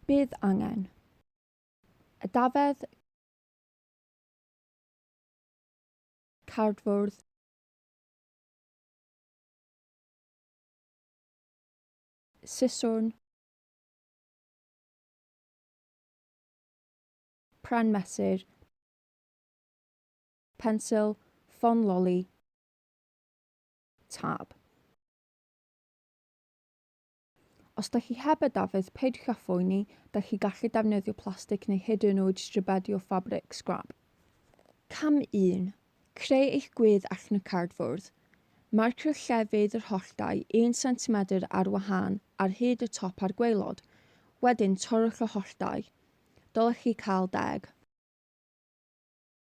Bydd angen. A dafedd cardfwrdd siswrn pren mesur Pensil, ffon loli, tab. Os da chi heb y dafydd, peidiwch â phoeni, da chi gallu defnyddio plastig neu hyd yn oed stribedi o ffabric, sgrap. Cam 1. Creu eich gwedd allan o cardfwrdd. Marcio llefydd yr holltau 1 centimetr ar wahân ar hyd y top a'r gwaelod. Wedyn, torrwch y holltau. Dylech chi cael deg.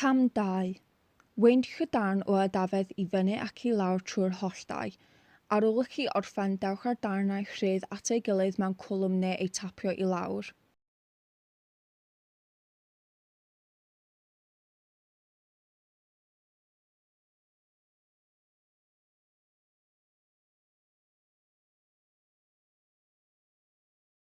Cam 2. Weindiwch y darn o adafedd i fyny ac i lawr trwy'r holl dai. Ar ôl i chi orffen, dewch â'r darnau rhydd at ei gilydd mewn cwlwm neu eu tapio i lawr.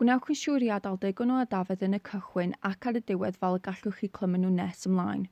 Gwnewch yn siŵr i adael digon o adafedd yn y cychwyn ac ar y diwedd fel y gallwch chi clymu nhw nes ymlaen.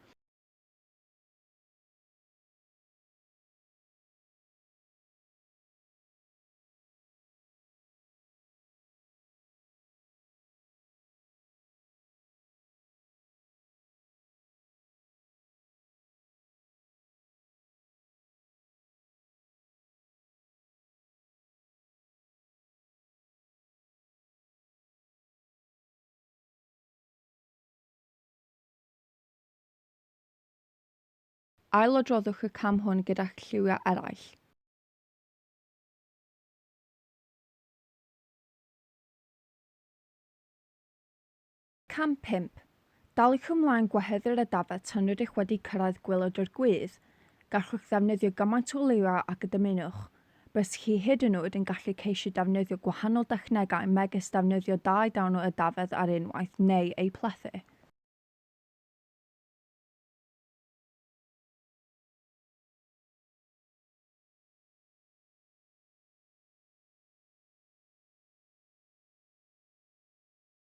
Ailodroddwch y cam hwn gyda'ch lliwiau eraill. Cam pump, Daliwch ymlaen gwahedd yr ydafedd tan rydych wedi cyrraedd gwaelod yr gwydd. Gallwch ddefnyddio gymaint o liwiau ag y dymunwch. Byddwch chi hyd yn oed yn gallu ceisio defnyddio gwahanol dechnegau megis defnyddio dau dawn o ydafedd ar unwaith neu eu plethu.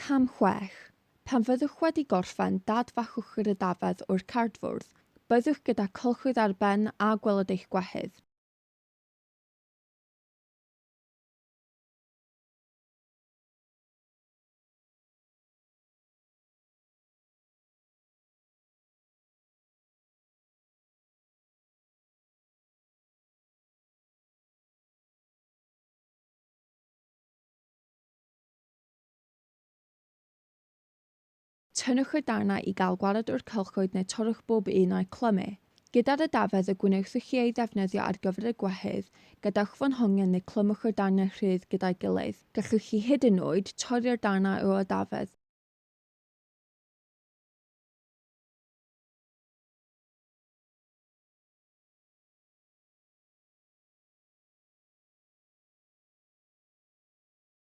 Cam chwech, Pan fyddwch wedi gorffen dadfachwch yr ydafedd o'r cardfwrdd. Byddwch gyda cylchwydd ar ben a gweled eich gwehydd. Tynnwch y darnau i gael gwared o'r cylchoedd neu torrwch bob un a'u clymu. Gyda'r ydafedd y gwnewch chi ei ddefnyddio ar gyfer y gwehydd, gadewch fo'n hongian neu clymwch y darnau rhydd gyda'i gilydd. Gallwch chi hyd yn oed torri'r darnau o ydafedd.